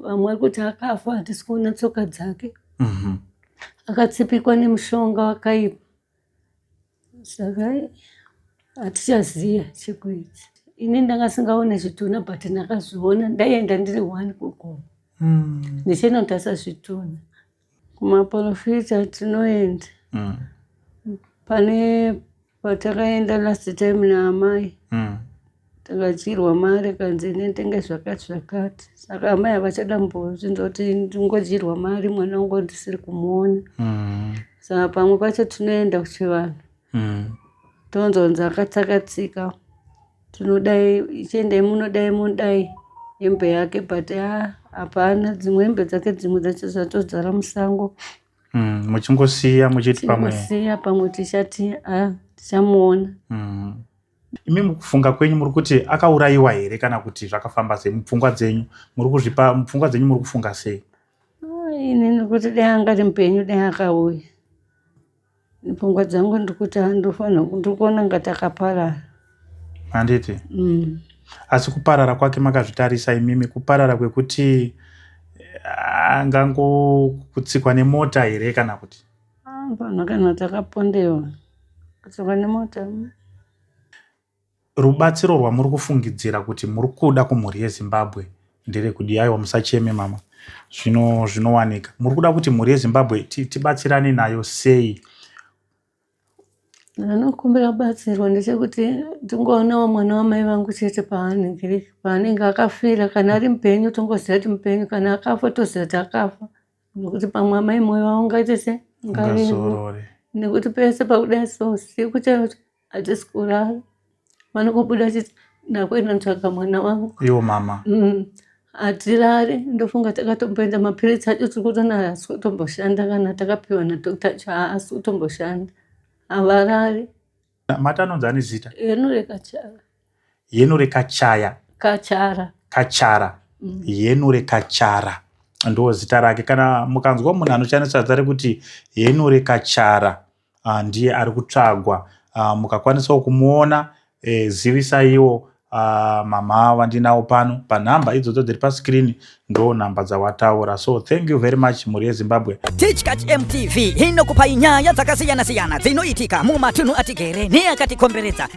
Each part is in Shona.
vamwe vari kuti akafa hatisi kuona tsoka dzake mhm. akatsipikwa nemushonga wakaipa saka hatichaziva chekuita ini ndanga singaone zvitunha but ndakazviona ndaienda ndiri one kugomo hmm. ndichinotarisa zvitunha Kumaporofita tinoenda mm. pane patakaenda last time naamai mm. takadyirwa mari akanzi inentenga zvakati zvakati saka amai havachada mbozvinza kuti ndingodyirwa mari mwana wangu ndisiri kumuona mm. saka pamwe pacho tinoenda kuchivanhu mm. tonzonza akatsakatsika tinodai ichiendai munodai munodai hembe yake but ah, hapana dzimwe hembe dzake dzimwe dzacho dzatodzara musango mm, muchingosiya muchiti pamwesiya pamwe tichati ah, tichamuona mm. imi mukufunga kwenyu muri kuti akaurayiwa here kana kuti zvakafamba sei mupfungwa dzenyu muri kuzvipa mupfungwa dzenyu muri kufunga sei ah, ini nekuti dai angari mupenyu dai akauya pfungwa dzangu ndikuti andofanira ndikuona nga takaparara handiti mm. asi kuparara kwake makazvitarisa imimi kuparara kwekuti eh, angangokutsikwa nemota here kana kuti ah, panhu kana takapondewa kutsikwa nemota mm. Rubatsiro rwamuri kufungidzira kuti muri kuda kumhuri yeZimbabwe nderekuti yaiwa musacheme mama zvino zvinowanika muri kuda kuti mhuri yezimbabwe tibatsirane nayo sei anokumbira batsirwa ndechekuti tingoonawo mwana wamai vangu chete paanenge paanenge akafira kana ari mupenyu tongoziva kuti mupenyu kana akafa toziva kuti akafa nekuti pamwe amai moyo vaungaite se ngazorore nekuti pese pakuda so siku chaicho hatisi kurara vanongobuda chiti ndakuenda ndotsvaga mwana wangu iwo mama mm. hatirare ndofunga takatomboenda mapiritsi acho tiri kutona haasi kutomboshanda kana takapiwa nadokta acho haasi kutomboshanda havarare mati anonzi ane zita yeno rekachara yeno rekachaya kachara kachara mm. yeno rekachara ndo zita rake kana mukanzwa munhu anoshandisa zita rekuti yeno rekachara uh, ndiye ari kutsvagwa uh, mukakwanisawo kumuona eh, zivisaiwo uh, mama vandinawo pano panhamba idzodzo dziri pascreen ndo nhamba dzawataura so thank you very much mhuri yezimbabwe tichkachmtv inokupai nyaya dzakasiyana-siyana dzinoitika mumatunhu atigere neakatikomberedza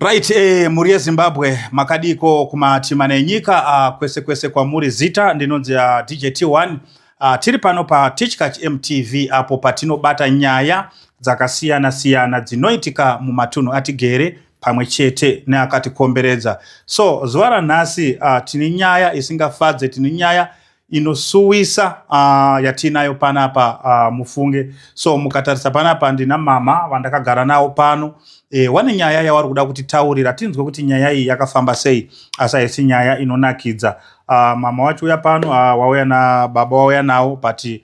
Right, eh, mhuri yeZimbabwe makadiko kumatima nenyika uh, kwese kwese kwamuri zita ndinonzi uh, ah, DJ T1 uh, ah, tiri pano pa Tichkach MTV apo patinobata nyaya dzakasiyana siyana dzinoitika mumatunhu atigere pamwe chete neakatikomberedza. So zuva ranhasi uh, tine nyaya isingafadze, tine nyaya inosuwisa uh, yatiinayo panapa uh, mufunge so mukatarisa panapa ndina mama vandakagara nawo pano e, wane nyaya yavari kuda kuti taurira tinzwe kuti nyaya iyi yakafamba sei asi haisi nyaya inonakidza uh, mama wacho uya pano uh, wauya na baba wauya nawo but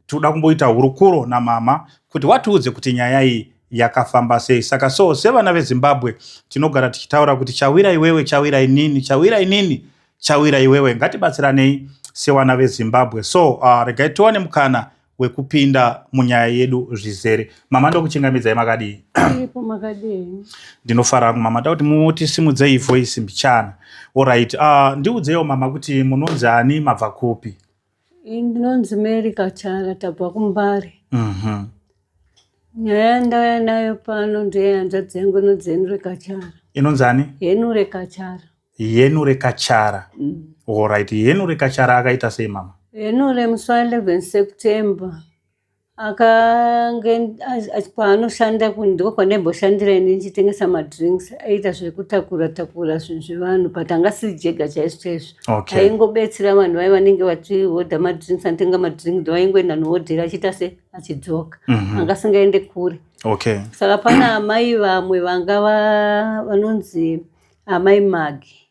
tinoda kumboita hurukuro namama kuti watiudze kuti nyaya iyi yakafamba sei saka so sevana vezimbabwe tinogara tichitaura kuti chawira iwewe chawira inini chawira inini Chawira iwewe ngatibatsiranei sewana vezimbabwe so uh, regai tiwane mukana wekupinda munyaya yedu zvizere mama ndokuchingamidzai makadii ndinofara mama takuti mutisimudzei voice mbichana orit uh, ah, ndiudzeiwo mama kuti munonzi ani mabva kupi Ndinonzi Mary Kachara tabva kuMbare. Mhm. Nyaya yandauya nayo pano ndeyehanzvadzi yangu inonzi Henure Kachara. Inonzi ani? Henure Kachara. Henure Kachara. Mm. All right. Henure Kachara akaita sei mama? Henure musi wa 11 September akange kwaanoshanda ndiko kwandaimboshandira ini ndichitengesa madrinks aiita zvekutakura takura zvinhu zvevanhu but anga siri jega chaizvo chaizvo okay. aingobetsera vanhu vai vanenge vachihodha madrinks anotenga madrinks do aingoenda nohodhera achiita se achidzoka mm -hmm. anga singaende kure okay. saka pana amai vamwe vanga vanonzi amai magi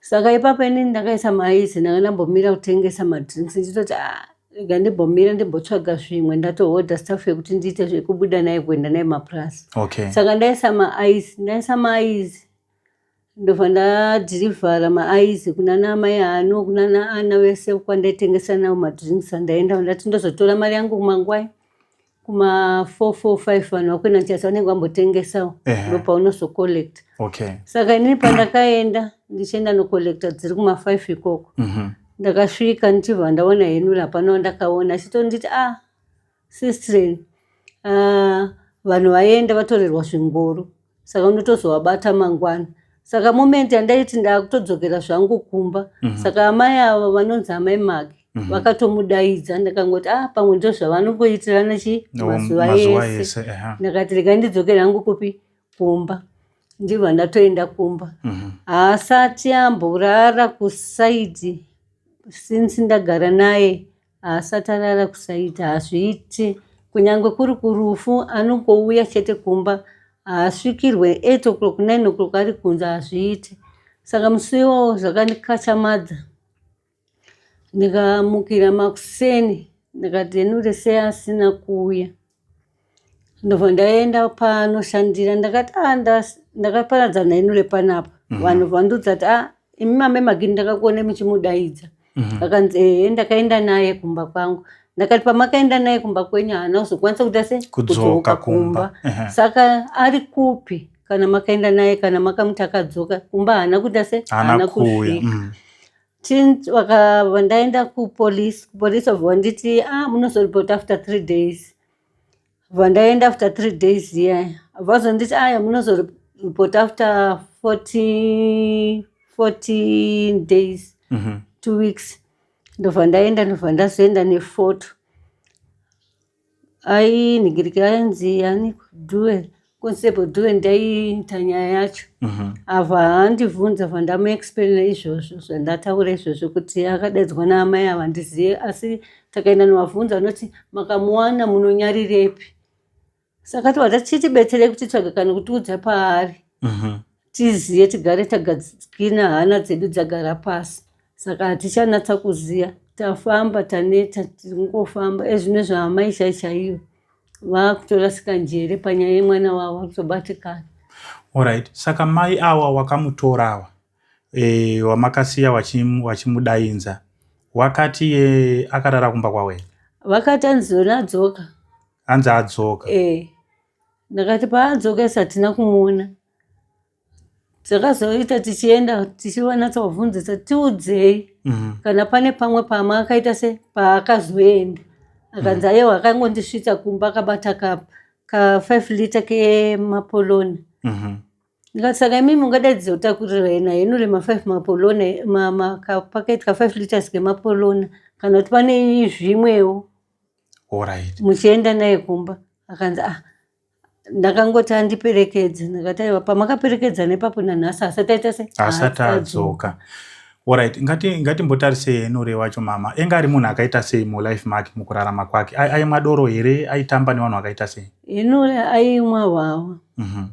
saka ipapo inini ndakaisa maizi ndanga ndambomira kutengesa madrinks ndichitoti ah, rega ndimbomira ndimbotsvaga zvimwe ndatohodha staff yekuti ndiite zvekubuda naye kuenda naye mapurazi okay. saka ndaisa maaizi ndaisa maaizi ndobva ndadhirivhara maaizi kunana amai hano kunana ana vese kwandaitengesa navo madrinks andaenda ndati ndozotora mari yangu kumangwai kuma 445 vanhu vakuenda ndichasa vanenge vambotengesawo ndo paunozocollect okay. saka inini pandakaenda ndichienda nocollecta dziri kuma 5 ikoko mm -hmm. ndakasvika ndichibva ndaona henula hapana wandakaona achitonditi a ah, sistren ah, vanhu vaenda vatorerwa zvingoro saka unotozovabata mangwana saka moment yandaiti ndakutodzokera zvangu kumba mm -hmm. saka amai avo vanonzi amai magi mm -hmm. vakatomudaidza ndakangoti ah pamwe ndo zvavanongoitirana chi no, mazuva yese ndakati rega ndidzokera hangu kupi kumba ndibva ndatoenda kumba mm -hmm. haasati amborara kusaidi since ndagara naye Haasati arara kusaita hazviite kunyange kuri kurufu anongouya chete kumba haasvikirwe eight o'clock nine o'clock ari kunze hazviite saka musi iwowo zvakandikachamadza ndikamukira makuseni ndikati henure sei asina kuuya ndobva ndaenda panoshandira ndakati a ah, ndakaparadzana inu repanapa mhm. vanhu vandiudza kuti a ah, imi mame magini ndakakuone muchimudaidza mhm. akanzi ehe ndakaenda naye kumba kwangu ndakati pamakaenda naye kumba kwenyu haana kuzokwanisa kuita se kudzoka kumba saka ari kupi kana makaenda naye kana makamuti akadzoka kumba haana kuita se haana kusvika mm. Since waka ndaenda ku police, police obva nditi ah munozo report after 3 days. Obva ndaenda after 3 days yeah. Obva zonditi ah munozo report after 40 14 days. Mm -hmm. 2 weeks. Ndobva ndaenda ndobva ndazoenda ne photo. ai nigiriki ainzi ani kudue konsebo due ndaiita nyaya yacho mhm. avo haandibvunza bva ndamuexplaina izvozvo zvandataura izvozvo kuti akadaidzwa naamai ava ndizive asi takaenda novabvunza anoti makamuwana munonyarirepi saka tova tachitibetserei kutitsvaga kana kutiudza paari mhm. tiziye tigare tagadzikina hana dzedu dzagara pasi saka hatichanatsa kuziya tafamba taneta tingofamba ezvino zvaamai chai chaiyo vakutorasika njere panyaya yemwana wavo vakutobatikana orit saka mai awa wakamutora awa e, wamakasiya wachimudainza wachi wakati ye akarara kumba kwawe vakati anzona adzoka anzi adzoka e, ndakati paadzoka isatina kumuona takazoita tichienda tichivanatsobvunzisa tiudzei mhm. kana pane pamwe pama akaita se paakazoenda akanzi mhm. ayewa akangondisvitsa kumba akabata ka ka5 liter kemapoloni mhm. ndikati saka imimi ungadaidzi otakurirai na henure ma5 mapolona makapaketi ka5 liters kemapolona kana kuti pane zvimwewo muchienda naye kumba akanzi ah ndakangoti andiperekedze ndakati aiwa pamakaperekedza nepapo nanhasi asati aita se asati adzoka orit ngati ngatimbotarise yenure wacho mama enga ari munhu akaita sei mulife make mukurarama kwake aimwa doro here aitamba nevanhu akaita sei yenure aimwa hwawa mm -hmm.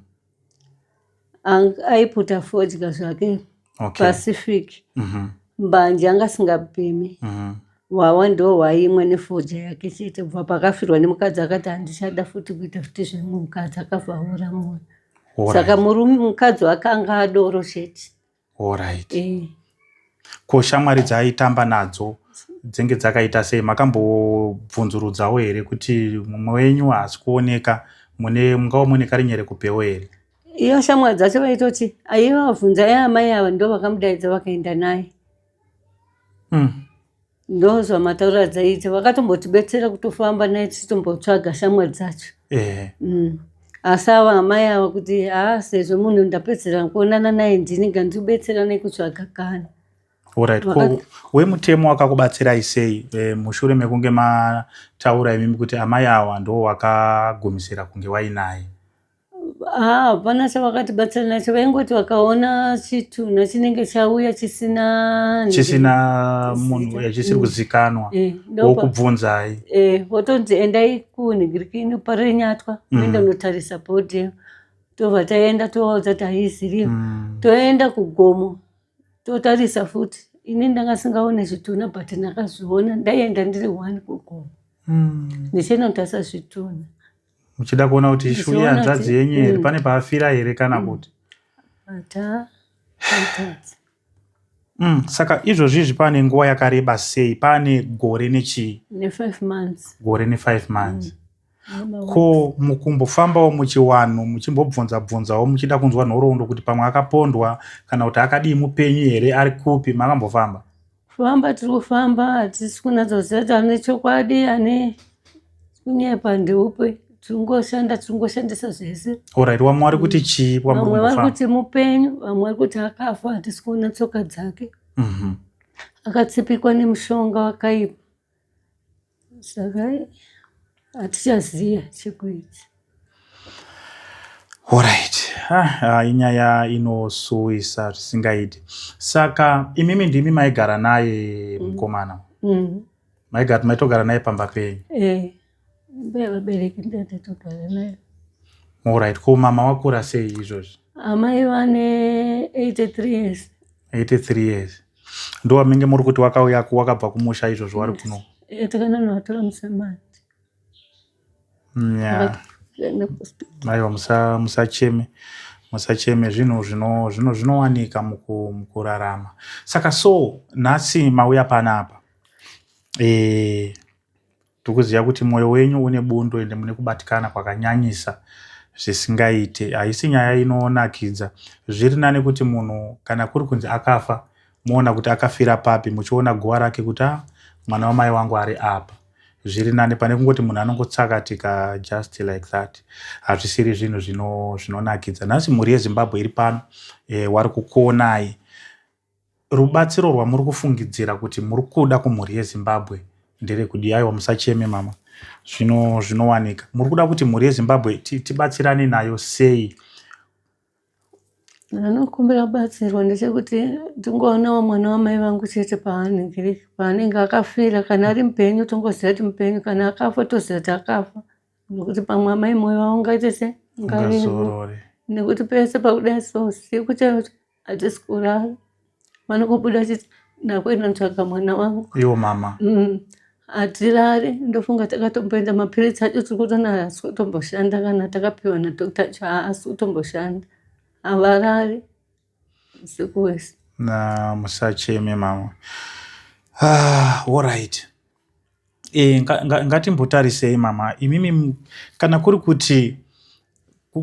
aiputa fodya zvake okay. pacific mm -hmm. mbanje anga asingapimi mm -hmm. wawa ndo waimwe nefodya yake chete bva pakafirwa nemukadzi akati handichada futi kuita futi zvimwe mukadzi akavhaura mwoyo saka mukadzi wake anga adoro chete Alright. Eh. Ko shamwari dzaaitamba nadzo dzenge dzakaita sei makambobvunzurudzawo here kuti mumwe wenyu haasi kuoneka mune mungava mune karinyere kupewo here iyo shamwari dzacho vaitoti aiva vabvunza yaamai ava ndo vakamudaidza vakaenda naye mm. ndozva mataura dzaidzi vakatombotibetsera kutofamba naye tichitombotsvaga shamwa dzacho yeah. mm. asi ava amai ava kuti haa sezvo munhu ndapedzera kuonana naye ndini ngandibetsera nekutsvaga kana orit ko wemutemo wakakubatsirai sei e, mushure mekunge mataura imimi kuti amai awa ndo wakagumisira kunge wainaye hapana chavakatibatsira nacho vaingoti vakaona chitunha chinenge chauya chisina chisina munhu chisiri mm. kuzikanwa eh, wokubvunzai eh, votonzi endai kunhigirikini parenyatwa mm. uenda unotarisa bhodhi tobva taenda tovaudza kuti haiziviyo mm. toenda kugomo totarisa futi ini ndanga singaone zvitunha but ndakazviona ndaienda ndiri one kugomo ndichienda kutarisa zvitunha muchida kuona kuti ishu yehanzvadzi yenyu here mm. pane paafira here kana mm. kuti mm, saka izvozvi izvi pane nguva yakareba sei pane gore nechii gore nefive months ko mukumbofambawo muchiwanhu muchimbobvunza bvunzawo muchida kunzwa nhoroondo kuti pamwe akapondwa kana kuti akadii mupenyu here ari kupi makambofamba Kufamba tiri kufamba hatisi kunatsa kuziva kuti ane chokwadi ane kunyepa ndeupe tiringoshanda tiringoshandisa zvese orit vamwe vari kuti chii vamwe vari kuti mupenyu vamwe vari kuti akafa hatisi kuona tsoka dzake mhm. akatsipikwa nemushonga wakaipa saka hatichaziva chekuita orit ah, inyaya inosuwisa zvisingaiti saka imimi ndimi maigara naye mm. mukomana mm. maigara maitogara naye pamba penyu eh. bevabereki ndatotogara nayo orit ko mama wakura sei izvozvi amai vane 83 years 83 years ndo wamenge muri kuti wakauya ku wakabva kumusha izvozvo wari kuno eh, takananovatora musemani aiwa musacheme musacheme zvinhu zvinowanika mukurarama saka so nhasi mauya panapa e, Tikuziva kuti moyo wenyu une bundo ende mune kubatikana kwakanyanyisa zvisingaite. Haisi nyaya inonakidza. Zviri nane kuti munhu kana kuri kunzi akafa moona kuti akafira papi muchiona guva rake kuti a ah, mwana wamai wangu ari apa zviri nane pane kungoti munhu anongotsakatika just like that hazvisiri zvinhu zvinonakidza nhasi mhuri yezimbabwe iri pano e, wari kukuonai Rubatsiro rwamuri kufungidzira kuti muri kuda kumhuri yeZimbabwe nderekudii? Aiwa, musacheme mama, zvino zvinowanika. Muri kuda kuti mhuri yeZimbabwe tibatsirane nayo sei? Anokumbira batsirwa ndechekuti tingoonawo mwana wamai vangu chete paanenge paanenge akafira kana ari mupenyu tongoziva kuti mupenyu kana akafa toziva kuti akafa nokuti pamwe amai moyo vaungaite se ngazorore nekuti pese pakuda so siku chaicho hatisi kurara vanokubuda chiti ndakuenda ndotsvaga mwana wangu iwo mama mm. hatirari ndofunga takatomboenda mapiritsi acho tiri kutona haasi kutomboshanda kana takapiwa nadokta acho haasi kutomboshanda havarari usiku wese na musacheme mama ah, all right E, ngatimbotarisei nga, mama imimi kana kuri kuti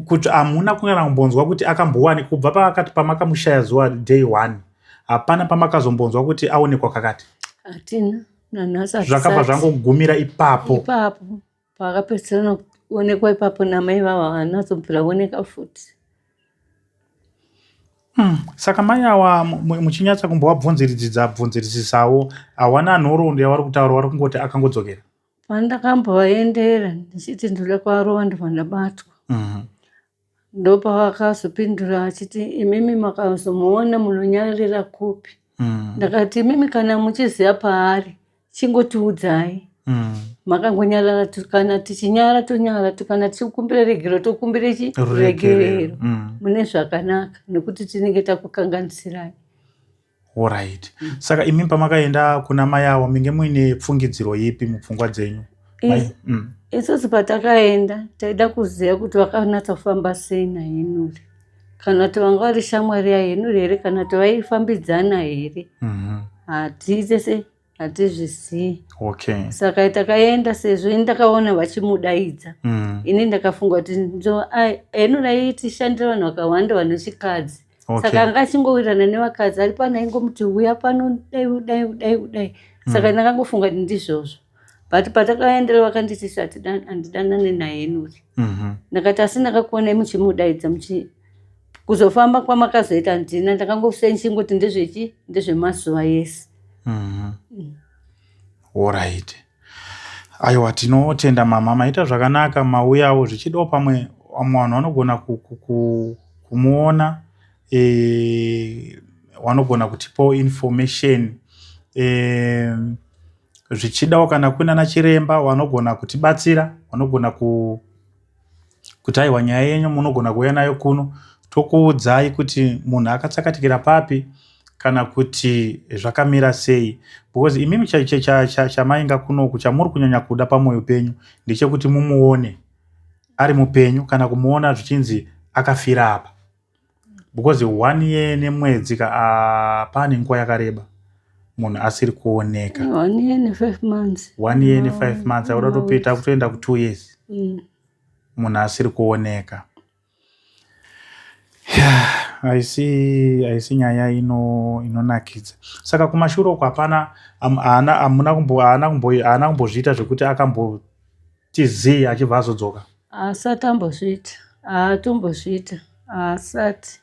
kuti hamuna kungana kumbonzwa kuti akambowani kubva paakati pamakamushaya zuva day one hapana pamakazombonzwa kuti aonekwa kakati hatina nanhasi zvakabva zvangogumira ipapo ipapo Paakapedzisira nokuonekwa ipapo namai vavo havanazobvira voneka futi. Mm. Saka mai awa muchinyatsa kumbovabvunziridzidza bvunziridzisawo hawana nhoroondo yavari kutaura wari kungoti akangodzokera pandakambovaendera ndichiti ndoda kuvarova ndobva ndabatwa mm -hmm. Ndopavakazopindura achiti imimi makazomuona munonyarira kupi? Mm. Ndakati imimi kana muchiziva paari chingotiudzai. Mm. Makangonyarara kana tichinyara tonyara kana tichikumbira regero tokumbira chi regerero mm. mune zvakanaka nekuti tinenge takukanganisirai. Alright. Mm. Saka imi pamakaenda kuna mai avo minge muine pfungidziro ipi mupfungwa dzenyu? Mm. Isusu patakaenda taida kuziva kuti vakanatsa kufamba sei naHenuri kana kuti vanga vari shamwari yaHenuri here kana kuti vaifambidzana here mm-hmm. hatiitese hatizvizivi okay. saka takaenda sezvo ini ndakaona vachimudaidza mm. ini ndakafunga kuti eno raitishandira vanhu vakawanda vanochikadzi okay. saka anga achingowirirana nevakadzi ari pano aingomuti uya pano dai udai udai udai mm. saka mm. ndakangofunga kuti ndizvozvo but patakaendera vakanditisa hatidanane naye nuri mm -hmm. ndakati asi ndakakuonai muchimudaidza muchi kuzofamba kwamakazoita ndina ndakangosenchinguti ndezvechi ndezvemazuva yese mm-hmm. mm. orit aiwa tinotenda mama maita zvakanaka mauyawo zvichidawo pamwe vamwe vanhu vanogona kumuona e, wanogona kutipawo information e, zvichidawo kana kunana chiremba wanogona kutibatsira wanogona ku kuti aiwa nyaya yenyu munogona kuuya nayo kuno tokuudzai kuti munhu akatsakatikira papi kana kuti zvakamira sei because imimi chamainga kunoku chamuri kunyanya kuda pamwoyo penyu ndechekuti mumuone ari mupenyu kana kumuona zvichinzi akafira apa because one year nemwedzi ka ah, pane nguva yakareba munhu asiri kuoneka one year nefive months one year nefive mm. months akuda topeta kutoenda kutwo years mm. munhu asiri kuoneka haisi nyaya ino inonakidza saka kumashure uko hapana haana kumbozviita zvekuti akambo tz achibva azodzoka haasati ambozviita haatombozviita haasati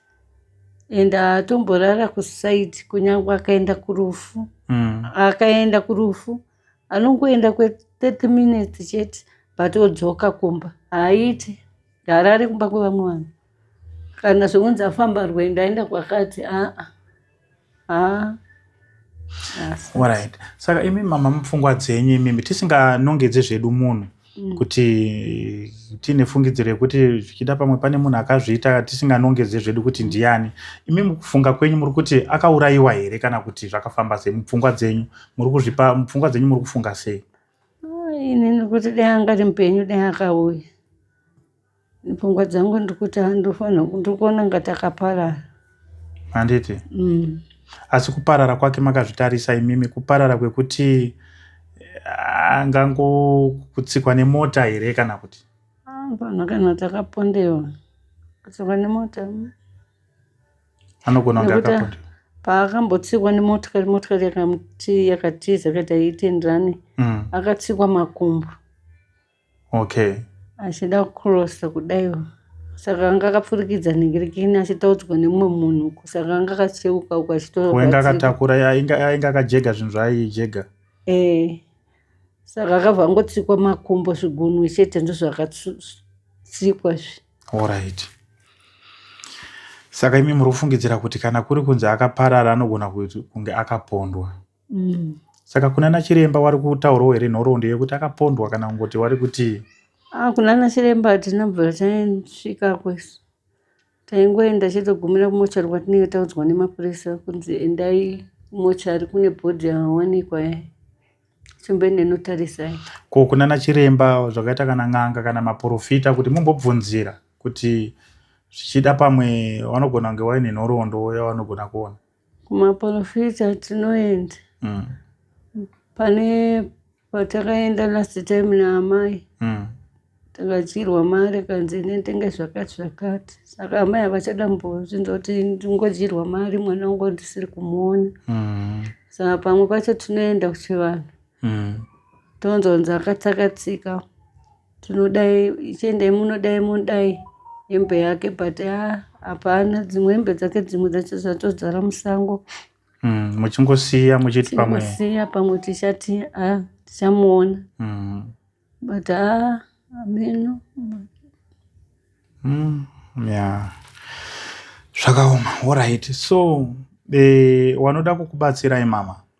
and haatomborara kusaidi kunyange akaenda kurufu mm. akaenda kurufu anongoenda kwe30 minutes chete but odzoka kumba haaiti haarari kumba kwevamwe vanhu kana zvekunzi afamba rwendo aenda kwakati aa aa right saka imi mama mupfungwa dzenyu imimi tisinganongedze zvedu munhu mm. kuti tiine fungidziro yekuti zvichida pamwe pane munhu akazviita tisinganongedze zvedu kuti ndiani imi mukufunga kwenyu muri kuti akaurayiwa here kana kuti zvakafamba sei mupfungwa dzenyu muri kuzvipa mupfungwa dzenyu muri kufunga sei inini kuti dai angari mupenyu dai akauya pfungwa dzangu ndikuti handofanira ndikuona nga takaparara handiti mm. asi kuparara kwake makazvitarisa imimi kuparara kwekuti eh, angangokutsikwa nemota here kana kuti pana kana takapondewa kutsikwa nemota mm. anogona kunge akapondewa paakambotsikwa nemotikari motikari yakatiza kaita iitenderane mm. akatsikwa makumbo okay achida kucrossa kudaiwo saka anga akapfurikidza ningirikini achitaudzwa nemumwe munhu saka anga akacheuka uko achitowenga akatakura ainge akajega zvinhu zvaaijega ee eh, saka akabva angotsikwa makumbo zvigunwe chete ndozvakatsikwa zvi orit saka imi muri kufungidzira kuti kana kuri kunzi akaparara anogona kunge akapondwa mm. saka kuna nachiremba wari kutaurwa here nhoroondo yekuti akapondwa kana kungoti wari kuti ah, kuna nachiremba tinobva taisvika kwese taingoenda chitogumira kumochari kwatinenge taudzwa nemapurisa kunzi endai kumochari kune bhodhi yawanikwa yayo chimbene notarisai ko kuna nachiremba zvakaita kana n'anga kana maporofita kuti mumbobvunzira kuti zvichida pamwe vanogona kunge vaine nhoroondo yavanogona kuona Kumaporofita tinoenda mm. pane patakaenda last time naamai mm. takadyirwa mari kanzi inendenga zvakati zvakati saka amai havachada mbozvinza kuti ndingodyirwa mari mwana wangu ndisiri kumuona mm. saka pamwe pacho tinoenda kuchivanhu mm. tonzonzi akatsakatsika tinodai chiendai munodai munodai hembe yake but ah, hapana dzimwe hembe dzake dzimwe dzacho dzatodzara musango mm, muchingosiya muchiti pamwe siya pamwe tichati ah, tichamuona mm. but ah, ameno mm, yeah. zvakaoma orit so e, wanoda kukubatsirai mama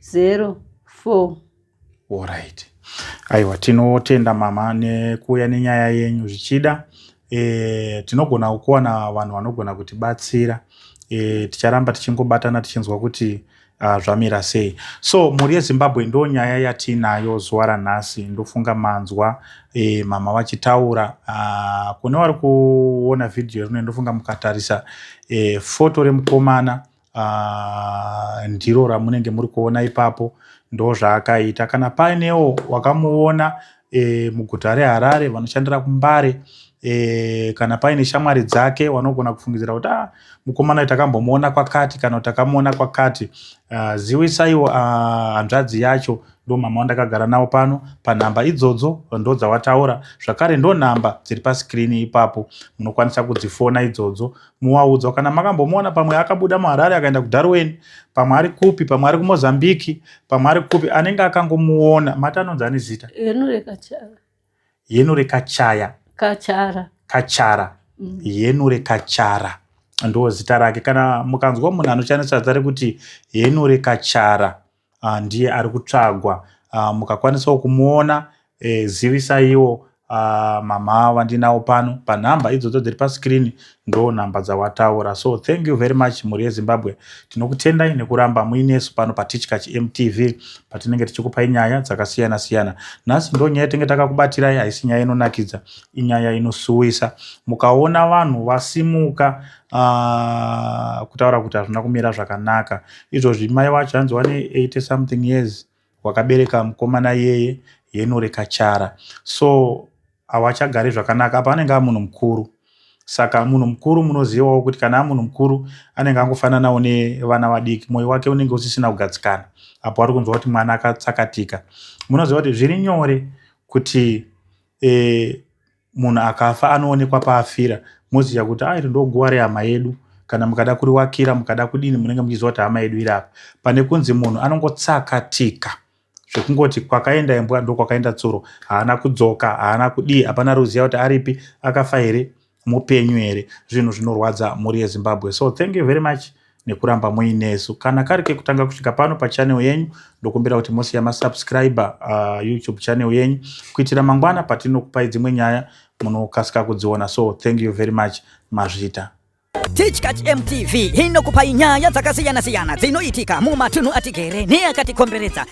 zero four orit aiwa tinotenda mama nekuuya nenyaya yenyu zvichida e, tinogona kuwana vanhu vanogona kutibatsira e, ticharamba tichingobatana tichinzwa kuti uh, zvamira sei so mhuri yezimbabwe ndo nyaya yatiinayo zuva ranhasi ndofunga manzwa e, mama vachitaura uh, kune vari kuona vhidhiyo rino ndofunga mukatarisa e, foto remukomana uh, ndiro ramunenge muri kuona ipapo ndo zvaakaita kana painewo wakamuona e, muguta reharare vanoshandira kumbare e, kana paine shamwari dzake vanogona kufungidzira kuti ah, mukomana uyu takambomuona kwakati kana kuti takamuona kwakati uh, ziwisaiwo ah, hanzvadzi uh, yacho ndo mama wandakagara nawo pano panhamba idzodzo ndo dzawataura zvakare ndo nhamba dziri paskrini ipapo munokwanisa kudzifona idzodzo muwaudzwa kana makambomuona pamwe akabuda muharare akaenda kudarwin pamwe ari kupi pamwe ari kumozambiki pamwe ari kupi anenge akangomuona mati anonzi ane zita yenure kachaya kachara kachara mm. yenure kachara ndo zita rake kana mukanzwa munhu anoshandisa zita rekuti yenure kachara uh, ndiye ari kutsvagwa uh, mukakwanisawo kumuona eh, zivisaiwo uh, mama vandinawo pano panhamba idzodzo dziri pascreen ndo nhamba dzawataura so thank you very much mhuri yezimbabwe tinokutendai nekuramba muinesu pano patichkach mtv patinenge tichikupai nyaya dzakasiyana siyana nhasi ndo nyaya tenge takakubatirai haisi nyaya inonakidza inyaya inosuwisa mukaona vanhu vasimuka uh, kutaura kuti hazvina kumira zvakanaka izvozvi mai wacho hanzi wane 80 something years wakabereka mukomana iyeye yenure kachara so hawachagari zvakanaka apa anenge amunhu mukuru saka munhu mukuru munozivawo kuti kana amunhu mukuru anenge angofananawo nevana vadiki mwoyo wake unenge usisina kugadzikana apo ari kunzwa kuti mwana akatsakatika munoziva kuti zviri nyore kuti eh, munhu akafa anoonekwa paafira moziva kuti airi ah, ndoguva rehama yedu kana mukada kuriwakira mukada kudini munenge muchiziva kuti hama yedu iri apa pane kunzi munhu anongotsakatika zvekungoti kwakaenda imbwa ndokwakaenda tsuro haana kudzoka haana kudii hapana ruziva kuti aripi akafa here mupenyu here zvinhu zvinorwadza mhuri yezimbabwe so thank you very much nekuramba muinesu kana kari kekutanga kusvika pano pachanel yenyu ndokumbira kuti mosiya masubscriber uh, youtube channel yenyu kuitira mangwana patinokupai dzimwe nyaya munokasika kudziona so thank you very much mazvita tichkat mtv inokupai nyaya dzakasiyana-siyana dzinoitika mumatunhu atigere neakatikomberedza